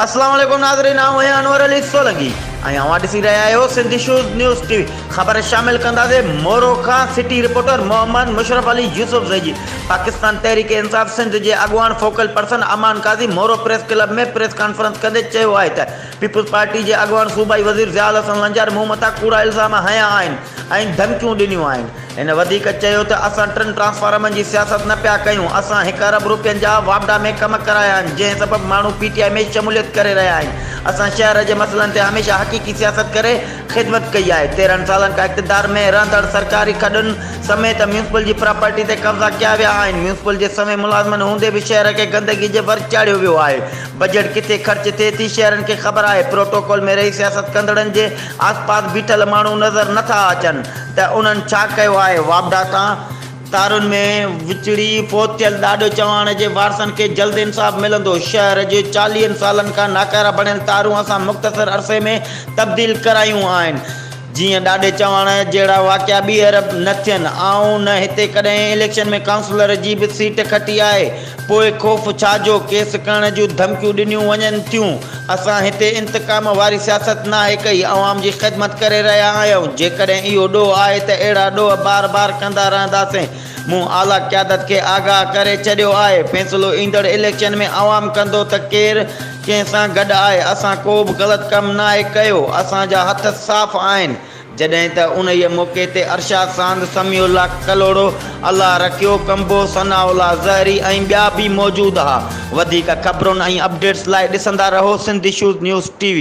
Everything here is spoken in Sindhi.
اسلام عليڪم ناظرين آئون آهيان انور علي سولنگي ۽ اوهان ڏسي رهيا آهيو Sindh shows news T V خبر شامل ڪنداسي مورو کان city reporter Muhammad Musharraf Ali Yousufzai جي پاڪستان تحريڪ انصاف سنڌ جي اڳواڻ focal person Aman Qazi Moro press club ۾ press conference ڪندي چيو آهي ته پيپلز پارٽي جي اڳواڻ صوبائي وزير ضياء الحسن لنجاري مون مٿان ڪوڙا الزام هنيا آهن ۽ ڌمڪيون ڏنيون آهن. هن وڌيڪ چيو ته اسان ٽن ٽرانسفارمرن جي سياست نه پيا ڪيون، اسان هڪ ارب رپين جا واپڊا ۾ ڪم ڪرايا آهن، جنهن سبب ماڻهو پي ٽي آء ۾ شموليت ڪري رهيا آهن، اسان شهر جي مسئلن تي هميشه حقيقي سياست ڪري خدمت ڪئي آهي، تيرهن سالن کان اقتدار ۾ رهندڙ سرڪاري کڏن سميت ميونسپل جي پراپرٽي تي قبضا ڪيا ويا آهن، ميونسپل جي سوين ملازمن هوندي به شهر کي گندگي جي ور چاڙهيو ويو آهي، بجيٽ ڪٿي خرچ ٿئي ٿي شهرين کي خبر آهي، پروٽوڪول ۾ رهي سياست ڪندڙن جي آسپاس بيٺل ماڻهو نظر نه ٿا اچن ته انهن ڇا ڪيو آهي، واپڊا تان تارن ۾ وچڙي فوت ٿيل ڏاڏو چواڻ جي وارثن کي جلد انصاف ملندو، شهر جي چاليهن سالن کان ناڪارا بڻيل تارون اسان مختصر عرصي ۾ تبديل ڪرايون آهن. جيئن ڏاڏي چواڻ جهڙا واقعا ٻيهر نه ٿين. آئون نه هتي ڪڏهن اليڪشن ۾ ڪائونسلر جي به سيٽ کٽي آهي. پوء خوف ڇا جو ڪيس ڪرڻ جون ڌمڪيون ڏنيون وڃن ٿيون. اسان هتي انتقام واري سياست ناهي ڪئي، عوام جي خدمت ڪري رهيا آهيون. جيڪڏهن اهو ڏوهه آهي ته اهڙا ڏوهه بار بار ڪندا رهنداسين. مون اعليٰ قيادت کي آگاهه ڪري ڇڏيو آهي. فيصلو ايندڙ اليڪشن ۾ عوام ڪندو ته ڪير ڪنهن سان گڏ آهي، اسان ڪو به غلط ڪم ناهي ڪيو، اسان جا هٿ صاف آهن. جڏهن ته انهيء موقعي تي ارشاد ساند سميع الله ڪلهوڙو، الله رکيو ڪنبو، ثناء الله زهري ۽ ٻيا به موجود ها. وڌيڪ خبرن ۽ اپڊيٽس لاء ڏسندا رهو Sindh issues news T V.